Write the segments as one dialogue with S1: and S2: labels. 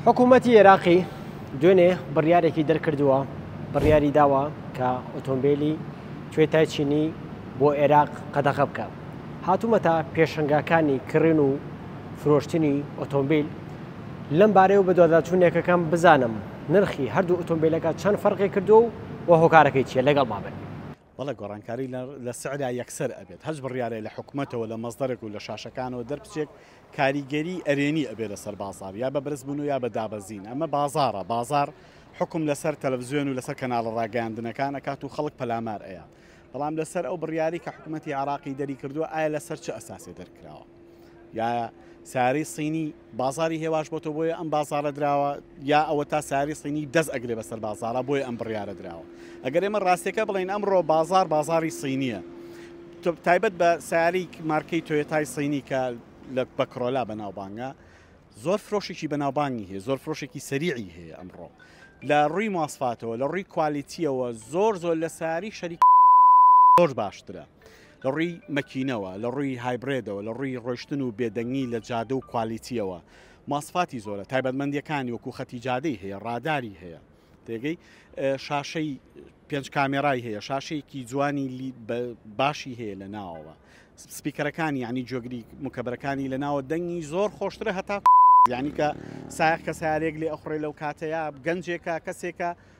S1: حکوومەتی عێراقی دوێنێ بڕیارێکی دەرکردووە بڕیاری داوە کە ئۆتۆمبیلی توێتای چینی بۆ عێراق قەدەغە بکە هاتوومەتە پێشنگاکانی کڕێن و فرۆشتنی ئۆتۆمبیل لەم بارەیەوە بە دواداچوونێکەکەم بزانم نرخی هەردوو ئۆتۆمبیلەکە چەند فەرقی کردو و هۆکارەکەی چیە لەگەڵ مابن بەڵێ گۆڕانکاری
S2: لە سعرا یەکسەر ئەبێت هەرچ بڕیارێ لە حکومەتەوە لە مەزدەرێک و لە شاشەکانەوە دەربچێک کاریگەری ئەرێنی ئەبێ لەسەر بازار یا بە برزبوون و یا بە دابەزین ئەمە بازارە بازار حکم لەسەر تەلەڤزیۆن و لەسەر کەناڵە ڕاگەاندنەکانە کات و خەڵک پەلامار ئەیە بەڵام لەسەر ئەو بڕیاری کە حکوومەتتی عراقی دەری کردووە ئایا لەسەر چ ئەساسێ دەرکراوە یا ساری سینی بازاری هێواش بۆتەوە بۆیە ئەم بازارە دراوە یا ئەوە تا ساری سینی دەست ئەگرێ بەسەر بازارە بۆی ئەم بڕیاە دراوە ئەگەر ئێمە ڕاستەکە بڵین ئەمڕۆ بازار بازاری سینیە تایبەت بە ساری مارکەی تۆێتای سینی کە لە بەکرۆلا بەناوبانگە زۆر فرۆشێکی بەناوبانگی هەیە زۆر فرۆشێکی سەریعی هەیە ئەمڕۆ لە ڕووی ماسفاتەوە لە ڕووی کوالیتیەوە زۆر زۆر لە ساری شەریک زۆر باشترە لە ڕووی مەکینەوە، لە ڕووی هایبرێدەوە، لە ڕووی ڕۆیشتن و بێدەنگی لە جادە و کوالیتییەوە ماسفاتی زۆرە، تایبەتمەندییەکانی وەکوو خەتی جادەی هەیە، ڕاداری هەیە تێگەی، شاشەی پێنج کامێرای هەیە، شاشەیەکی جوانی باشی هەیە لە ناوەوە، سپیکەرەکانی یعنی جۆگری مکەبەرەکانی لە ناوە دەنگی زۆر خۆشترە هەتا. یانی کە سایەق کە سارێک لێ ئەخوڕێ لەو کاتەیا گەنجێکە کەسێکە.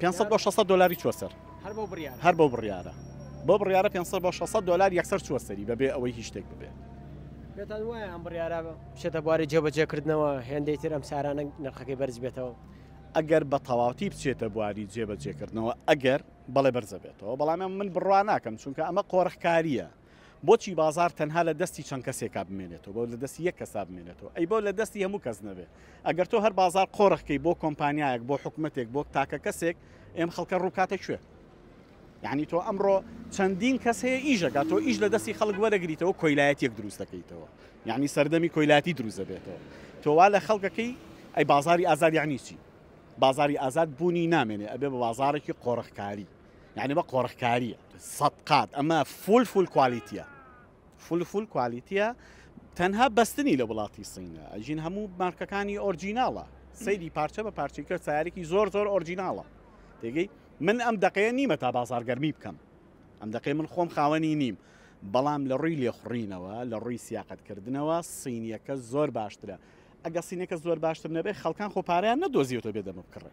S1: پێنج
S2: سەد بۆ شەش سەد دۆلاری چووە سەر هەر بەو بڕیارە هەر بەو بڕیارە بۆ بڕیارە پێنج سەد بۆ شەش سەد دۆلار یەکسەر چووە سەری بەبێ ئەوەی هیچ شتێک ببێت پێتان وایە
S1: ئەم بڕیارە بچێتە بواری جێبەجێکردنەوە هێندەی تر ئەم سارانە نرخەکەی بەرز بێتەوە ئەگەر بە
S2: تەواوتی بچێتە بواری جێبەجێکردنەوە ئەگەر بەڵێ بەرزە بێتەوە بەڵام من بڕوا ناکەم چونکە ئەمە قۆرخکاریە بۆچی بازار تەنها لە دەستی چەند کەسێکا بمێنێتەوە بەو لە دەستی یەک کەسا بمێنێتەوە ئەی بەو لە دەستی هەموو کەس نەبێ ئەگەر تۆ هەر بازار قۆرخکەی بۆ کۆمپانیایەک بۆ حکومەتێک بۆ تاکە کەسێک ئێم خەڵکە ڕووکاتە کوێ یعنی تۆ ئەمڕۆ چەندین کەس هەیە ئیشەکە تۆ ئیش لە دەستی خەڵک وەرەگریتەوە کۆیلایەتیەک دروست دەکەیتەوە یعنی سەردەمی کۆیلاتی دروست دەبێتەوە تۆوا لە خەڵکەکەی ئەی بازاری ئازاد یعنی چی بازاری ئازاد بوونی نامێنێ ئەبێ بە بازارێکی قۆرخکاری یعنی بە قۆڕخکاریە سەدقات ئەمە فول فول کوالیتە فول فول کوالیتە تەنها بەستنی لە وڵاتی سینە ئەژین هەموو مارکەکانی ئۆرجیناڵە سەیری پارچە بە پارچی کرد سارێکی زۆر زۆر ئۆرجیناڵە تێگەی من ئەم دقەیە نیمە تا بازارگەرمی بکەم ئەم دقی من خۆم خاوەنی نیم بەڵام لە ڕووی لێخڕینەوە لە ڕووی سیاقەتکردنەوە سینیەکە زۆر باشترە ئەگە سینەکە زۆر باشتر نەبێت خەڵکان خۆپاریان نەدۆزیێتەوە بێ دەمە بکڕێ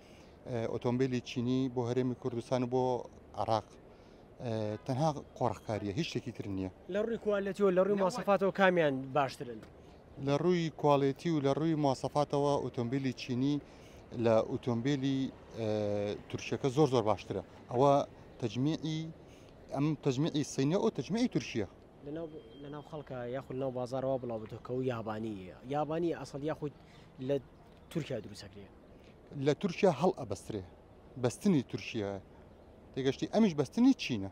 S3: ئۆتۆمبیلی چینی بۆ هەرێمی کوردستان و بۆ عراق تەنها قۆڕخکاریە هیچ شتێکی تر نییە لە ڕووی کوالەتیەوە
S1: لە ڕووی ماسەفاتەوە کامیان باشترن لە ڕووی
S3: کوالێتی و لە ڕووی ماسەفاتەوە ئۆتۆمبیلی چینی لە ئۆتۆمبیلی تورکیەکە زۆر زۆر باشترە ئەوە تەجمیعی ئەم تەجمیعی سینە و تەجمیعی تورکیە لەناو
S1: خەڵکە یاخود ناو بازارەوە بڵاو بێتەوە کە و یابانی یابانی ئەسڵ یاخود لە تورکیا دروست ئەکرێ لە
S3: تورکیا هەڵ ئەبەسترێ بەستنی تورکیایە تێگەشتی ئەمیش بەستنی چینە